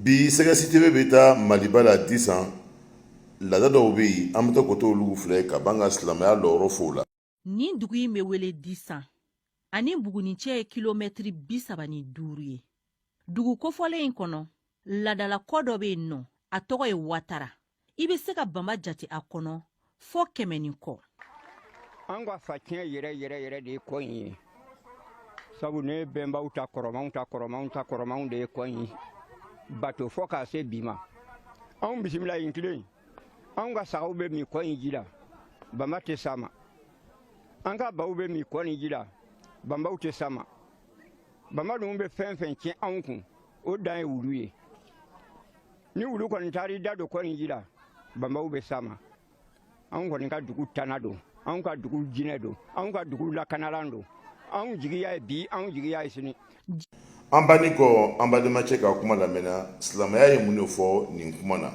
bi sɛgɛsitebe bɛ taa maliba la disan laada dɔw bɛ yen an bɛ taa koto olu filɛ ka ban ka silamɛya lɔyɔrɔ f'o la nin dugu in bɛ wele disan ani bugunin cɛ ye kilomɛtiri bi saba ni duuru ye dugu kofɔlen in kɔnɔ laadala kɔ dɔ bɛ yen nɔ a tɔgɔ ye watara i bɛ se ka banba jate a kɔnɔ fo kɛmɛ ni kɔ an ka faciyɛn yɛrɛ yɛrɛ yɛrɛ de ye kɔ in ye sabu ne bɛnbaw ta kɔrɔmanw ta kɔrɔmanw ta kɔrɔmanw de ye kɔ in bato fo k'a se bi ma anw bisimila yen kelen anw ka sagaw bɛ min kɔ in ji la banba tɛ s'a ma an ka baw bɛ min kɔ nin ji la banbaw tɛ s'a ma banba ninnu bɛ fɛn fɛn tiɲɛ anw kun o dan ye wulu ye ni wulu kɔni taar'i da don kɔ in ji la banbaw bɛ s'a ma anw kɔni ka dugu tana don anw ka dugu jinɛ don anw ka dugu lakanalan don anw jigi y'a ye bi anw jigi y'a ye sini an bannen kɔ an badenmacɛ ka kuma lamɛn na silamaya ye mun de fɔ nin kuma na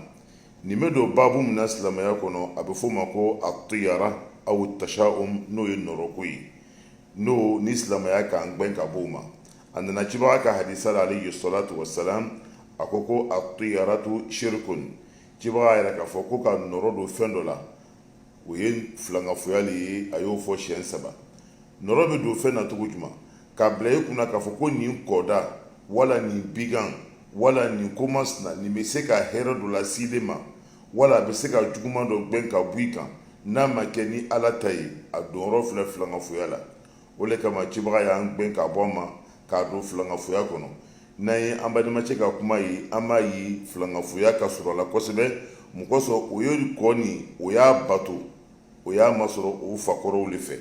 nin bɛ don babu min na silamaya kɔnɔ a bɛ f'o ma ko atiyara aw tashaum n'o ye nɔrɔko ye n'o ni silamaya k'an gbɛn ka b'o ma a nana cibaga ka hadisa la alayhi salatu wasalam a ko ko atiyaratu shirikun cibaga y'a yira k'a fɔ ko ka nɔrɔ don fɛn dɔ la o ye filankafoya le ye a y'o fɔ siɲɛ saba nɔrɔ bɛ don fɛn na cogo jumɛn k'a bila i kunna k'a fɔ ko nin kɔda wala nin bigan wala nin ko masina nin bɛ se ka hɛrɛ dɔ lase ne ma wala a bɛ se ka juguman dɔ gɛn ka bɔ i kan n'a ma kɛ ni ala ta ye a donyɔrɔ filɛ filankafoya la o de kama cibaga y'an gɛn ka bɔ a ma k'a don filankafoya kɔnɔ n'an ye an badenmacɛ ka kuma ye an b'a ye filankafoya ka surun a la kosɛbɛ mun kosɔn o ye kɔ nin o y'a bato o y'a masɔrɔ o fakɔrɔw de fɛ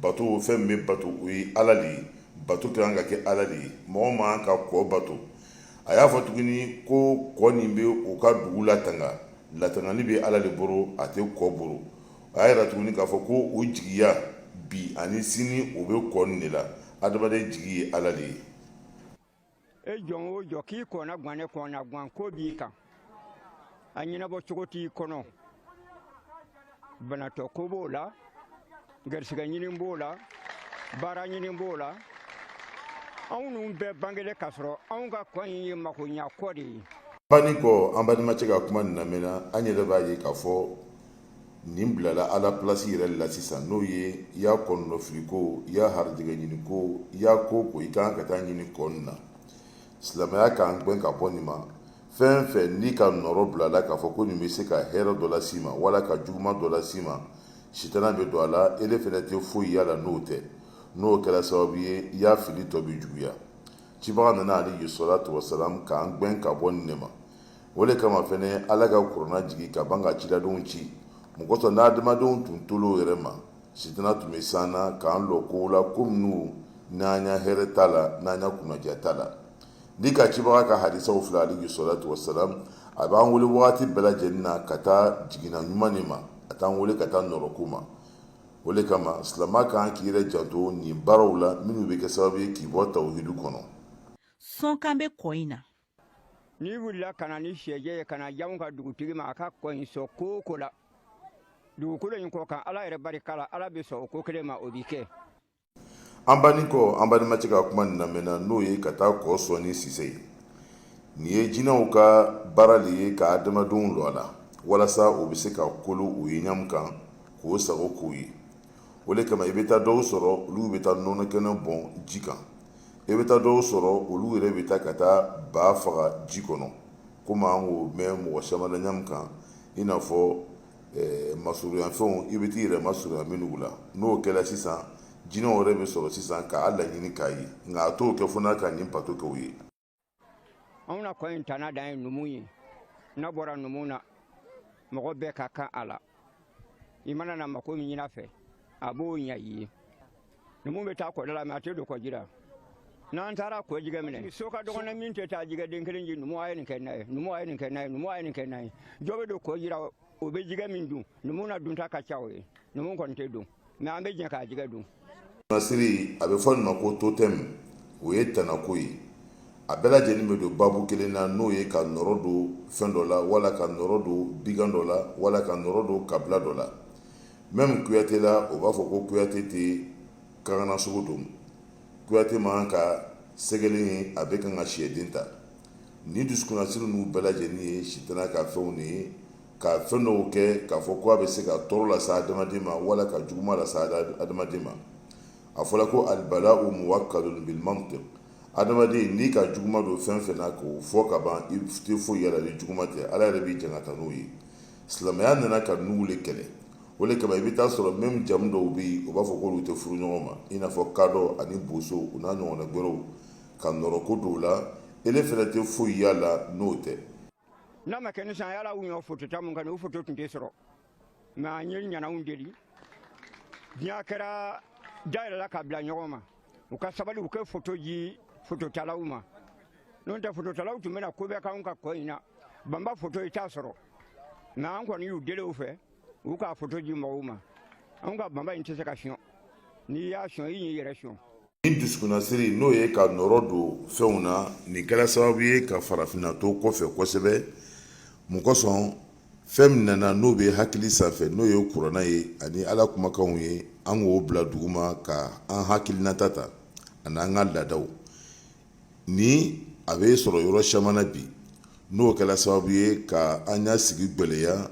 bato fɛn bɛ bato o ye ala de ye bato ka kan ka kɛ ala de ye mɔgɔ man kan ka kɔ bato a y'a fɔ tuguni ko kɔ nin bɛ u ka dugu latanga latangali bɛ ala de bolo a tɛ kɔ bolo a y'a yira tuguni k'a fɔ ko o jigiya bi ani sini o bɛ kɔ nin de la adamaden jigi ye ala de ye e jɔn o jɔn k'i kɔnna gannen kɔnna gan ko b'i kan a ɲɛnabɔ cogo t'i kɔnɔ banatɔ ko b'o la garisigɛ ɲini b'o la baara ɲini b'o la anw ninnu bɛɛ bangelen k'a sɔrɔ anw ka kɔ in ye makoɲa kɔ de ye an bannen kɔ an badenmacɛ ka kuma nin lamɛn na an yɛrɛ b'a ye k'a fɔ nin bilala ala plasi yɛrɛ la sisan n'o ye i y'a kɔnɔnɔfili ko i y'a harijɛgɛ ɲini ko i y'a ko o ko i kan ka taa ɲini kɔ nin na silamɛya k'an gɛn ka bɔ nin ma fɛn fɛn n'i ka nɔrɔ bilala k'a fɔ ko nin bɛ se ka hɛrɛ dɔ las'i ma wala ka juguman dɔ las'i ma sitana bɛ don a la ele fɛnɛ tɛ foyi y'a la n'o tɛ n'o kɛra sababu ye i y'a fili tɔ bɛ juguya cibaga nana alayhi salatu wasalam k'an gɛn ka bɔ nin ne ma o de kama fɛnɛ ala ka kurana jigin ka ban ka ciladenw ci mun kosɔn n'adamadenw tun tola u yɛrɛ ma sitana tun bɛ s'an na k'an lɔ kow la ko minnu n'an y'a hɛrɛ t'a la n'an ka kunnadiya t'a la n'i ka cibaga ka hadisaw filɛ alayhi salatu wasalam a b'an weele waati bɛɛ lajɛlen na ka taa jigina ɲuman nin ma a t'an weele ka taa nɔrɔko ma o de kama silamɛ kan k'i yɛrɛ janto nin baaraw la minnu bɛ kɛ sababu ye k'i bɔ tawhidu kɔnɔ sɔnkan bɛ kɔ in na n'i wulila ka na ni syɛ jɛ ye ka n'a di anw ka dugutigi ma a ka kɔ in sɔn ko o ko la dugukolo in kɔ kan ala yɛrɛ barika la ala bɛ sɔn o ko kelen ma o bɛ kɛ an banni kɔ an balimacɛ ka kuma nin lamɛn na n'o ye ka taa kɔ sɔn ni sise ye nin ye jinɛw ka baara de ye ka adamadenw lɔ a la walasa o bɛ se ka kolo u ye ɲa min kan k'o sago k'u ye o de kama i bɛ taa dɔw sɔrɔ olu bɛ taa nɔnɔ kɛnɛ bɔn ji kan i bɛ taa dɔw sɔrɔ olu yɛrɛ bɛ taa ka taa ba faga ji kɔnɔ komi an k'o mɛn mɔgɔ caman na ɲa min kan i n'a fɔ eh, masurunyafɛnw i bɛ t'i yɛrɛ masurunya minnu la n'o kɛra sisan jinɛw yɛrɛ bɛ sɔrɔ sisan k'a laɲini k'a ye nka a t'o kɛ fo n'a ka nin bato kɛ u ye anw na kɔ in tana dan ye numu ye n'a bɔra numu na mɔgɔ bɛɛ ka kan a la i mana na mako min ɲini a fɛ a b'o ɲa i ye numu bɛ taa kɔda la mɛ a tɛ don kɔji la n'an taara kɔ jigɛ minɛ so ka dɔgɔn min tɛ taa jigɛden kelen di numu a ye nin kɛ na ye numu a ye nin kɛ na ye numu a ye nin kɛ na ye jɔ bɛ don kɔji ra o bɛ jigɛ min dun numu na dunta ka ca o ye numu kɔni tɛ don mɛ an bɛ jɛ k'a jɛgɛ dun nasiri a bɛ fɔ nin ma ko totem o ye tanako ye a bɛɛ lajɛlen bɛ don babu kelen na n'o ye ka nɔrɔ don fɛn dɔ la wala ka nɔrɔ don bigan dɔ la wala ka nɔrɔ don kabila dɔ la mɛmu kuyate la o b'a fɔ ko kuyate tɛ kangana sogo dun kuyate man ka sɛgɛlen ye a bɛ kan ka siyɛden ta ni dusukunasiri ninnu bɛɛ lajɛlen ye sitana ka fɛnw de ye ka fɛn dɔw kɛ k'a fɔ ko a bɛ se ka tɔɔrɔ lase adamaden ma wala ka juguman lase adamaden ma a fɔra ko albalau muwakalun bil mantik adamaden n'i ka juguman don fɛn fɛn na k'o fɔ ka ban i tɛ foyi y'a la ni juguman tɛ ala yɛrɛ b'i jangata n'o ye silamɛya nana ka ninnu de kɛlɛ o de kama i bɛ taa sɔrɔ mɛmu jamu dɔw bɛ yen o b'a fɔ ko olu tɛ furu ɲɔgɔn ma i n'a fɔ kadɔ ani boso u n'a ɲɔgɔnna wɛrɛw ka nɔrɔko don o la ele fɛnɛ tɛ foyi y'a la n'o tɛ n'a ma kɛ ni san yala u ɲɔ foto ta mun kan o foto tun tɛ sɔrɔ mɛ an ye ɲananw deli diɲɛ kɛra dayɛlɛla ka bila ɲɔgɔn ma u ka sabali u k'a foto ji fototalaw ma n'o tɛ fototalaw tun bɛna ko bɛɛ k'anw ka kɔ in na banba foto i t'a sɔrɔ mɛ an kɔni y'u deli u fɛ u k'a foto ji mɔgɔw ma anw ka banba in tɛ se ka sɔn n'i y'a sɔn i y'i yɛrɛ sɔn ni dusukunnasiri n'o ye ka nɔrɔ don fɛnw na nin kɛra sababu ye ka farafinna to kɔfɛ kosɛbɛ mun kosɔn fɛn min nana n'o bɛ hakili sanfɛ n'o ye kuranna ye ani ala kumakanw ye an k'o bila duguma ka an hakilinata ta ani an ka laadaw ni a bɛ sɔrɔ yɔrɔ caman na bi n'o kɛra sababu ye ka an ya sigi gɛlɛya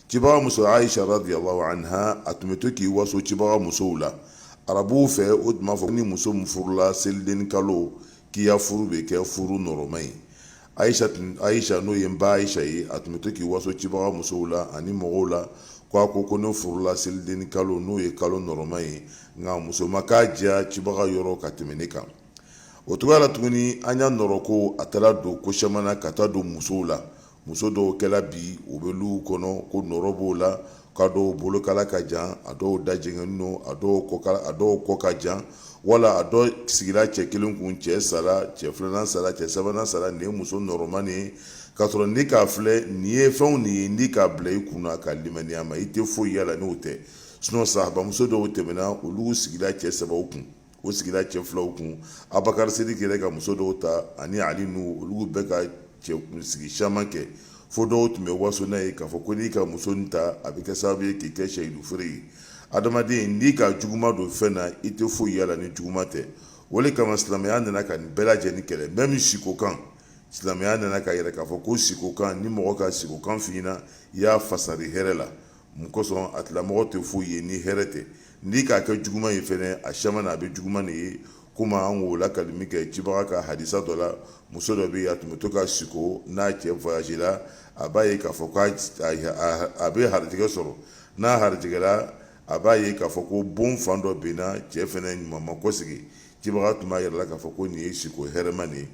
cibaga muso aisha radiyallahu anha a tun bɛ to k'i waso cibaga musow la arabuw fɛ o tun b'a fɔ ni muso min furula selidennin kalo k'i ya furu bɛ kɛ furu nɔrɔma ye aisha tun aisha n'o ye n ba aisha ye a tun bɛ to k'i waso cibaga musow la ani mɔgɔw la ko a ko ko ne furula selidennin kalo n'o ye kalo nɔrɔma ye nka muso ma k'a diya cibaga yɔrɔ ka tɛmɛ ne kan o cogoya la tuguni an ya nɔrɔko a taara don ko caman na ka taa don musow la muso dɔw kɛra bi u bɛ lu kɔnɔ ko nɔrɔ b'o la k'a dɔw bolokala ka jan a dɔw dajɛngɛnen don a dɔw kɔkala a dɔw kɔ ka jan wala a dɔ sigira cɛ kelen kun cɛ sara cɛ filanan sara cɛ sabanan sara nin ye muso nɔrɔma de ye k'a sɔrɔ n'i k'a filɛ nin ye fɛnw nin ye n'i k'a bila i kun na ka limaniya ma i tɛ foyi y'a la n'o tɛ sinon sahabamuso dɔw tɛmɛna olu sigira cɛ sabaw kun u sigira cɛ filaw kun abakari sidiki yɛrɛ ka muso dɔw ta ani ali nu olu bɛɛ ka cɛkun sigi caman kɛ fo dɔw tun bɛ waso n'a ye k'a fɔ ko n'i ka muso in ta a bɛ kɛ sababu ye k'i kɛ shahidu fure ye adamaden n'i ka juguma don fɛn na i tɛ foyi y'a la ni juguma tɛ o de kama silamɛya nana ka nin bɛɛ lajɛlen kɛlɛ même sikokan silamɛya nana k'a yira k'a fɔ ko sikokan ni mɔgɔ ka sikokan f'i ɲɛna i y'a fasari hɛrɛ la mun kosɔn a tigilamɔgɔ tɛ foyi ye ni hɛrɛ tɛ n'i k'a kɛ juguma ye fana a caman na a bɛ juguma de ye komi an k'o lakali min kɛ cibaga ka hadisa dɔ la muso dɔ bɛ yen a tun bɛ to ka siko n'a cɛ voyage la a b'a ye k'a fɔ ko a bɛ harijɛgɛ sɔrɔ n'a harijɛgɛra a b'a ye k'a fɔ ko bon fan dɔ binna cɛ fana ɲuman ma kɔsegi cibaga tun b'a yir'a la k'a fɔ ko nin ye siko hɛrɛma de ye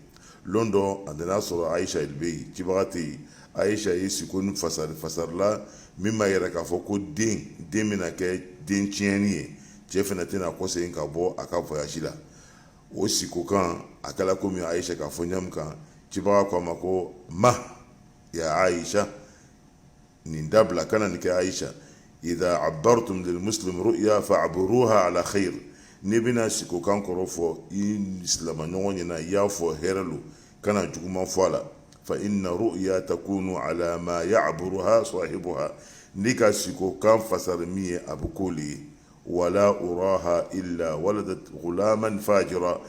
lon dɔ a nana a sɔrɔ aisha de bɛ yen cibaga tɛ yen aisha ye siko nin fasari fasari la min b'a yira k'a fɔ ko den den bɛna kɛ den tiɲɛnen ye cɛ fana tɛna kɔsegin ka bɔ a ka voyage la o sikokan a kɛra komi aisha k'a fɔ ɲa min kan cibaga ko a ma ko ma ya aisha nin dabila kana nin kɛ aisha idha abartum lil muslim ru'ya fa'buruha ala khair n'i bɛna siko kan kɔrɔ fɔ i silamaɲɔgɔn ɲɛna i y'a fɔ hɛrɛ lo kana juguman fɔ a la fa inna ru'ya takunu ala ma ya'buruha sahibuha n'i ka siko kan fasari min ye a bɛ k'o le ye wala uraha illa waladat ghulaman fajira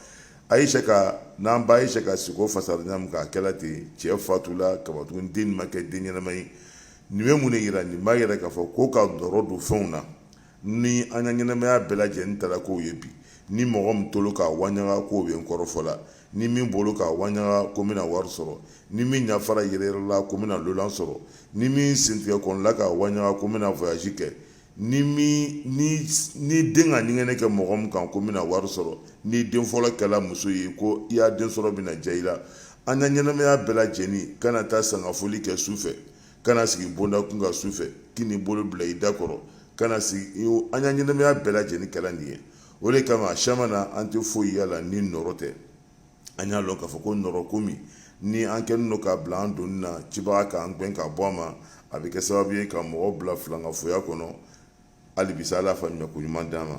aisha ka n'an ba aisha ka siko fasari ɲa min k'a kɛla ten cɛ fatula ka ban tugun den ma kɛ den ɲɛnama ye nin bɛ mun de yira nin b'a yira k'a fɔ ko ka nɔrɔ don fɛnw na ni an ka ɲɛnamaya bɛɛ lajɛlen taara k'o ye bi ni mɔgɔ min tolo k'a waɲaga k'o bɛ n kɔrɔfɔ la ni min bolo k'a waɲaga ko n bɛna wari sɔrɔ ni min ɲafara yɛrɛyɛrɛla ko n bɛna lolan sɔrɔ ni min sentigɛ kɔnɔla k'a waɲaga ko n bɛna voyage kɛ ni ni den ka ɲɛgɛnɛ kɛ mɔgɔ min kan ko n bɛna wari sɔrɔ n'i den fɔlɔ kɛla muso ye ko i ya den sɔrɔ bɛna diya i la an ka ɲɛnamaya bɛɛ lajɛlen kana taa sangafoli kɛ su fɛ kana sigi bonda kun kan su fɛ kan'i bolo bila i da kɔrɔ kana sigi an ka ɲɛnamaya bɛɛ lajɛlen kɛla nin ye o de kama siyaman na an tɛ foyi yaala ni nɔrɔ tɛ an y'a lɔn k'a fɔ ko nɔrɔko min ni an kɛlen don k'a bila an doni na cibaga k'an gɛn ka bɔ a ma a bɛ kɛ sababu ye ka mɔgɔ bila filankafoya kɔnɔ hali bi sa Ala y'a faamuya koɲuman d'an ma